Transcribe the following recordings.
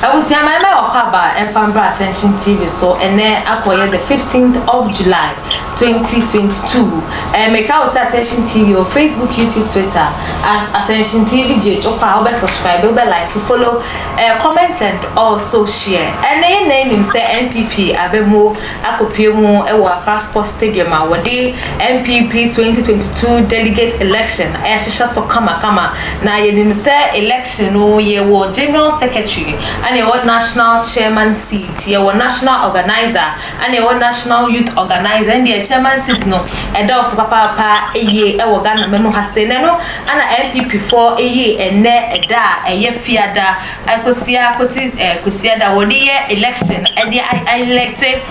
abusua ma ɛmɛ ɔkɔ aba ɛnfa mbra attention tv so ɛnɛ akɔyɛ the fifteenth of july twenty twenty two ɛɛ mɛka wɔ sɛ attention tv wɔ facebook youtube twitter at attention tv gye ɔkɔ a wobɛ subscribe wobɛ like follow ɛɛ comment and also share ɛnɛ yɛ na enim sɛ npp abɛmo. akɔpue mu wɔ Accra Sports Stadium a wɔde NPP 2022 delegate election ɛrehyehyɛ so kamakama. Na yɛnim sɛ election no yɛwɔ general secretary ɛna yɛwɔ national chairman seat, yɛwɔ national organiser ɛna yɛwɔ national youth organiser. Ɛne deɛ chairman seat no ɛdɔɔso papaapa yie wɔ Ghana ma mu ha sei na ɛno ɛna NPP foɔ yii ɛnnɛ ɛda a ɛyɛ fiada. Kwasida kɔsi Kwasiada wɔde yɛ election ɛde electe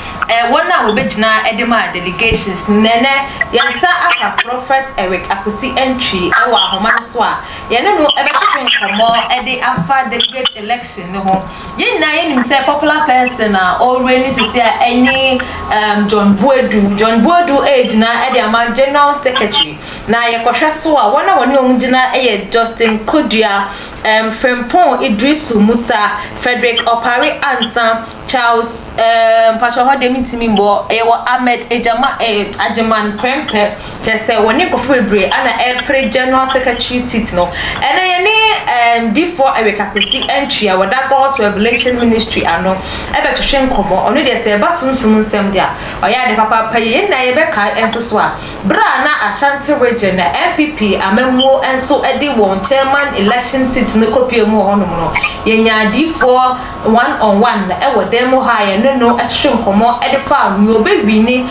wɔn a wɔbɛgyina ɛde ma delegations no na ɛnɛ yɛn nsa aka Prophet Eric Akwasi Antwi ɛwɔ ahoma no so a yɛne no ɛbɛtwetwe nkɔmmɔ ɛde afa delegate election no ho. Yɛn nyinaa yɛnim sɛ popular person a ɔreign sisi a ɛne um John Boadu. John Boadu ɛregyina ɛde ama general secretary na yɛkɔhwɛ so a wɔn a wɔne wɔn gyina ɛyɛ Justin Kodua um, Frimpong Idrisu Musa, Frederick Opare Ansah, Charles um, mpakyɛ hɔ deɛ mentumi mbɔ, yɛwɔ Ahmed Ejama, eh, Agyeman Prempeh, kyerɛ sɛ wɔne nkurɔfoɔ bebree ana ɛrepere General Secretary seat no. Ɛnɛ yɛne um, difoɔ Eric Akwesi Antwi a wɔda God's Revelation Ministry ano ɛbɛtwetwe nkɔmmɔ, ɔno deɛ sɛ ɛba sunsum nsɛm deɛ a, ɔyɛ ade papaapa yie. Yɛn nyinaa yɛbɛkae nso so a, Bere a na Ashanti Region na NPP amammuo nso de wɔn Chairman Election seat no kɔpue mu wɔ hɔnom no, yɛnyaa Adiyifoɔ one on one wɔ dan mu hɔ a yɛne no twetwe nkɔmmɔ de faa nea ɔbɛwini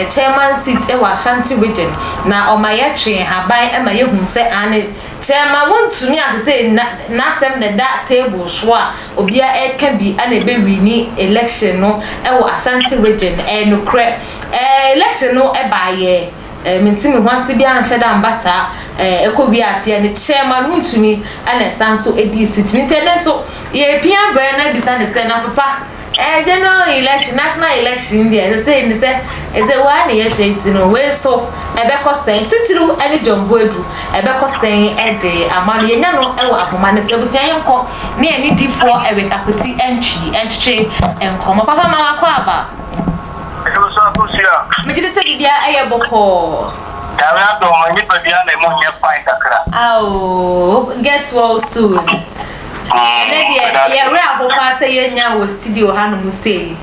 Chairman seat wɔ Ashanti Region na ɔma yɛtwee nhaban ma yɛhuu sɛ aane Chairman wɔntumi a sesei n'asɛm na ɛda table so a obiara reka bi na ɛbɛwini election no wɔ Ashanti Region, ɛyɛ nokorɛ. Eh election no ɛbaa yɛ eh me nte me ho ase biaa nhyɛ da mba saa eh ɛkɔ wie aseɛ ne chairman ho ntumi ɛna ɛsan so ɛdii seat no nti ɛnɛ nso yɛ pia brɛ na bisa ne sɛ na papa eh general election national election deɛ ɛsɛ sɛ ɛni sɛ ɛsɛ waa ne yɛ hwɛ nti no wei so ɛbɛkɔ sɛn titiriw ɛne John Boadu ɛbɛkɔ sɛn ɛde ama no yɛnya no ɛwɔ ahoma no sɛ abusua yɛ nkɔ ne ɛne difoɔ ɛwɛ akwasi ɛntwi ɛntwetwe nkɔmɔ papa ma wakɔ aba. Bio nso abusua. Megye di sɛ biribiara yɛ bɔkɔɔ. Nyame adom mo nipadua na emu nyɛ fine kakra. Aww get well soon. Ɛnɛ deɛ yɛ werɛ ahow paa sɛ yɛ nnya wɔ studio ha nom sei.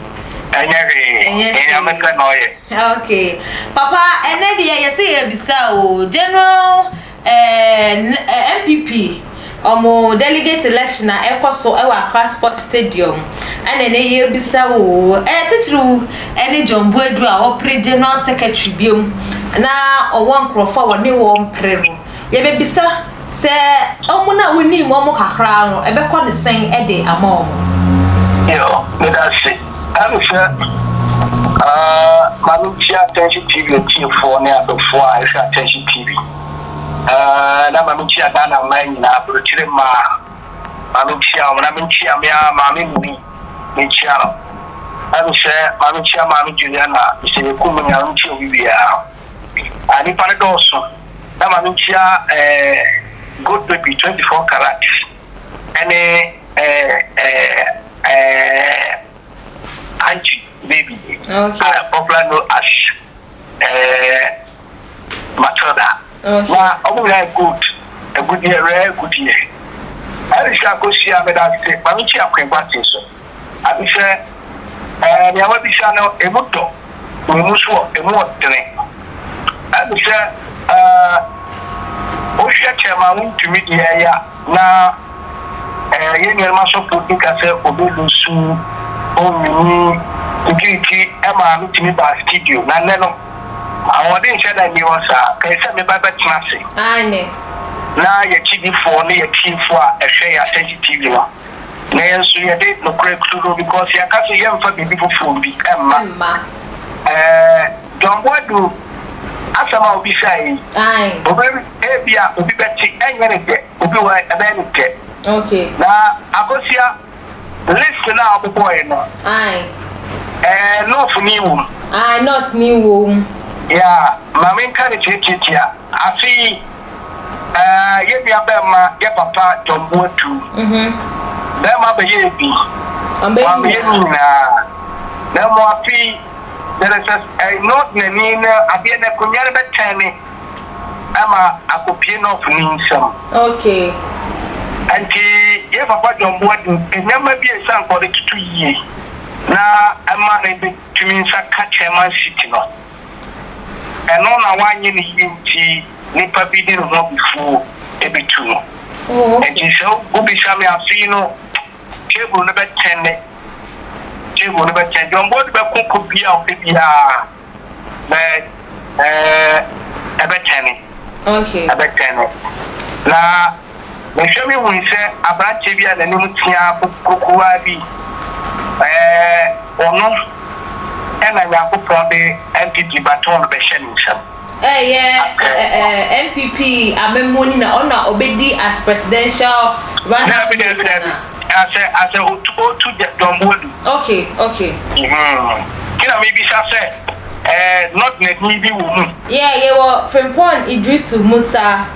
Ɛnyɛ hwee. Ɛnyɛ hwee. Nyame pɛ na ɔyɛ. Okay papa ɛnɛ deɛ yɛ sɛ yɛ bisa oo general. Ɛɛ NPP wɔn delegate election a ɛkɔ so wɔ Accra Sports Stadium na ɛnɛ yɛrebisa oo. Ɛɛ titiriw ɛne John Boadu a wɔpere general secretary biom na ɔwɔ nkorɔfoɔ a wɔne wɔn pere no. Yɛbɛbisa sɛ wɔn a wonim wɔn kakra no ɛbɛkɔ ne sɛn de ama wɔn. Yoo, meda ase. Ɛne sɛ, Ma me ntie Atɛnhye TV atiefoɔ ne adɔfoɔ a ɛhwɛ Atɛnhye TV, na ma me nkyia Ghana mmaa nyinaa, aburokyire mmaa, ma me nkyia wɔn, na me nkyia me ara maame Mimi, me nkyia no. Ɛne sɛ, Ma me nkyia maame Juliana, Mister Yeku mo nyinaa, ma me nkyia obi biara. Ah, nipa no dɔɔso. Na ma me nkyia ɛɛ Gold Baby, 24 Karat, Ɛne ɛɛ ɛɛ Angie baby a popular no as ɛɛ Matilda na ɔmo nyinaa yɛ gold agudeɛ rare agudeɛ. Alice Akosua meda wo ase, Kwame Kyiakwin Boateng so. Adesrɛ, Ɛɛ, nea woabisa no, emu dɔ, emu so wɔ, emu wɔ dene. Adesrɛ, Ɛɛ, wohwɛ kyɛ ma wontumi de yɛ yɛ a, na ɛɛ, yɛn nuanom asɔfo di ka sɛ obelusu, onwini, tititi ma metumi baa studio, na nnɛ no, ahoɔden nhyɛ da nni hɔ saa. Kae sɛ me ba bɛtena ase. Aane. Na yɛn akyidifoɔ ne yɛn atiefo a ɛhwɛ yɛn asɛnhye TV no. Na yɛn nso yɛde nokorɛ turo because yɛaka sɛ yɛmfa biribi foforɔ bi mma. Mma. Ɛɛ John Boadu asɛm a wobisaeɛ yi, Ae. obi ebia obi bɛte ɛnyɛ no dɛ, obi wɔ hɔ ɛbɛyɛ no dɛ. Okay. Na Akosua, list no a wɔbobɔeɛ no, Ae. ɛɛ North ni wɔ mu. Ae, North ni wɔ mu. Yeah, ma menka no tiatiatia. Afei, eh, yɛn nuabɛmma, yɛn papa John Boadu, bɛmma bɛyɛɛ bi, wɔammeyɛ ne nyinaa, na mmom afei there is a, eh, North na ni no, adeɛ no akonnwa no bɛtɛne ma akɔpue North ni nsam. Okay. Ɛnti, yɛn papa John Boadu, nneɛma bi a ɛsɛ anka ɔde toto yie na ɛma no bɛtumi nsa ka Chairman seat no. Ɛno na wanyɛ ne yie nti nipa bi de ne ho abufuo bɛtu no. Nti sɛ wobisa me afe yi no table no bɛtɛn ne table no bɛtɛn. John Boadu bɛko ko bi a ɔpɛ biara but ɛɛ ɛbɛtɛne ɛbɛtɛne na. Mehwɛ me hui sɛ aberanteɛ bi a n'anim teaa kokuruwaa bi ɛɛ ɔno ɛna Nyankopɔn de NPP baton no bɛhyɛ ne nsam. Ɛyɛ ɛɛ NPP amammuo no na ɔna ɔbɛdi as presidential runner mate. Daabi daabi daabi asɛ asɛ otu otu John Boadu. Ok ok. Mhmm nti na mebisa sɛ ɛɛ not n'adin bi wɔ mu. Yeah yɛwɔ Frimpong Iddrisu Musa.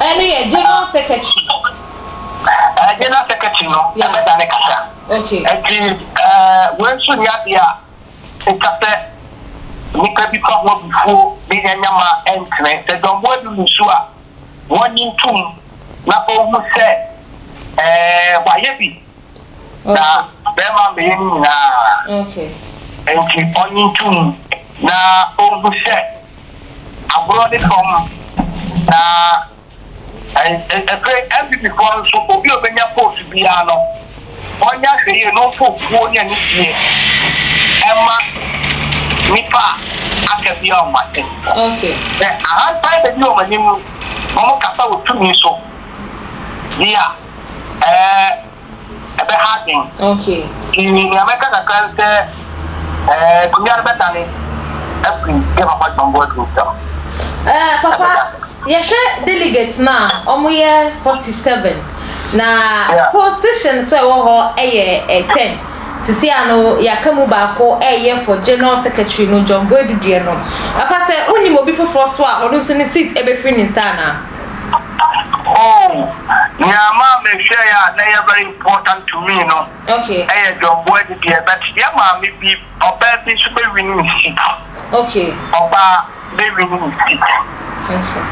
Ɛno yɛ general secretary. Ɛɛ general secretary no ɛbɛda ne kasa. Okay. Ɛti ɛɛ wei nso nyɛ adeɛ a ɛtwa sɛ nipa bi fa ho abufuo de yɛ nyama ɛntene. Sɛ dɔmboa bi mu su a wɔnye ntum na ɔhu sɛ ɛɛ wayɛ bi Na bɛrima bɛyɛ ne nyinaa, enti ɔnnye nto mu na onhu sɛ agorɔ ne fam. Na ɛpere NPP foɔ no nso, obi a obenya post biara no, ɔnyɛ ahwɛyie na ɔmfa obuo ne anigyeɛ mma nnipa a aka biara wɔn asɛm mu. Sɛ ahantan bedi wɔn anim na wɔkasa wɔ tumi so deɛ a. ɛɛ ɛbɛha adwene. Okay. Ti nea mɛka kakra ne sɛ ɛɛ akonnwa no bɛdane afiri yɛ papa John Boadu nsam. Ɛɛ eh, papa yɛhwɛ delegate no a wɔn yɛ forty seven na yeah. position so ɛwɔ hɔ ɛyɛ eh, ten sisi ano yɛaka mu baako ɛyɛ for general secretary no John Boadu deɛ no papa sɛ wonim obi foforɔ so a ɔno nso ne seat ɛbɛfiri ne nsa anaa. Oh, nea ɛmaa mehwɛe a na ɛyɛ very important to me no yɛ John Boadi deɛ, but yɛn maame bi, ɔbaa bi nso bɛ win ne seat. Okay. Ɔbaa bɛ win ne seat. Okay.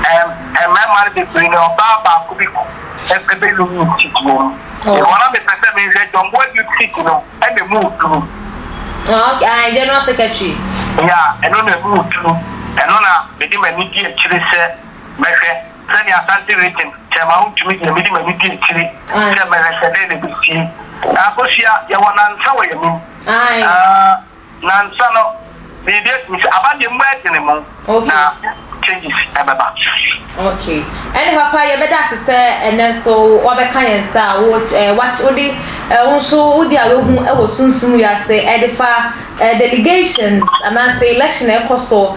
Ɛm, mmarima no bebree no, ɔbaa baako bi bɛ win ne seat wɔ mu. Oh. Wɔn a mepɛ sɛ mehwɛ John Boadi seat no. ɛna ɛmu duru. Ah ok, ae, General Secretary. Ya, ɛno na ɛmu duru. Ɛno na mede m'ani di akyire sɛ mɛhwɛ, sɛdeɛ Asante Region Kyɛrema ho ntumi deɛ, mede m'ani di akyire sɛ mɛhwɛ sɛ dɛn na ɛbɛsie. Akosua, yɛwɔ nansa wɔ yɛn anim. Ae. Ah. Nansa no biribi atumi sɛ aba deɛ mu ɛdene mo na changes ɛbɛba. Ok ɛne papa yɛbɛda ase sɛ ɛnɛ nso wabɛka yɛn nsa a wo eh, wach, wode eh, wo nso wode a wahu ɛwɔ sunsum wiase ɛde fa eh, delegations anaasɛ election ɛkɔ so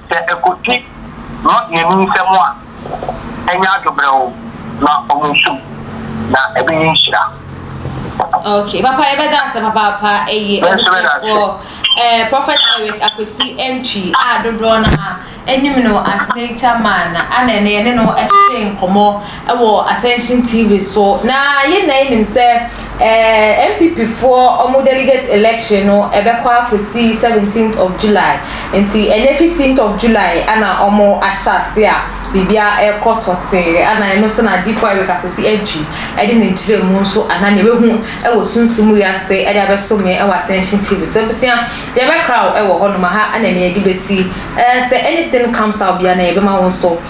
Sɛ ɛkɔti lɔdeani nsam a, ɛnyɛ adwobrɛw na wɔn so mu, na ɛbɛyɛ nhyira. Ok papa yɛbɛda ase papaapa ɛyɛ abusuafoɔ eh, Prophet Eric Akwasi Antwi a dodoɔ no a anim no as nature man ana ɛne ɛne no ɛhyehyɛ nkɔmmɔ wɔ Attention TV so na yɛn nyinaa yɛnim sɛ eh, NPP foɔ ɔmo delegate election no ɛbɛkɔ afosi 17th of July nti ɛnɛ 15th of July ana ɔmo ahyɛ ase a biribia ɛkɔ tɔtee ana ɛno nso na Dipo Eric Akwesi Adwi ɛde ne nkyerɛmu nso ana nea wahu ɛwɔ sunsum wiase ɛde abɛsom yɛn ɛwɔ Attention TV so abusua yɛbɛkra wo ɛwɔ hɔnom ha ana nea yɛde bɛsi eh, sɛ anything comes out bia na yɛbɛma wo nso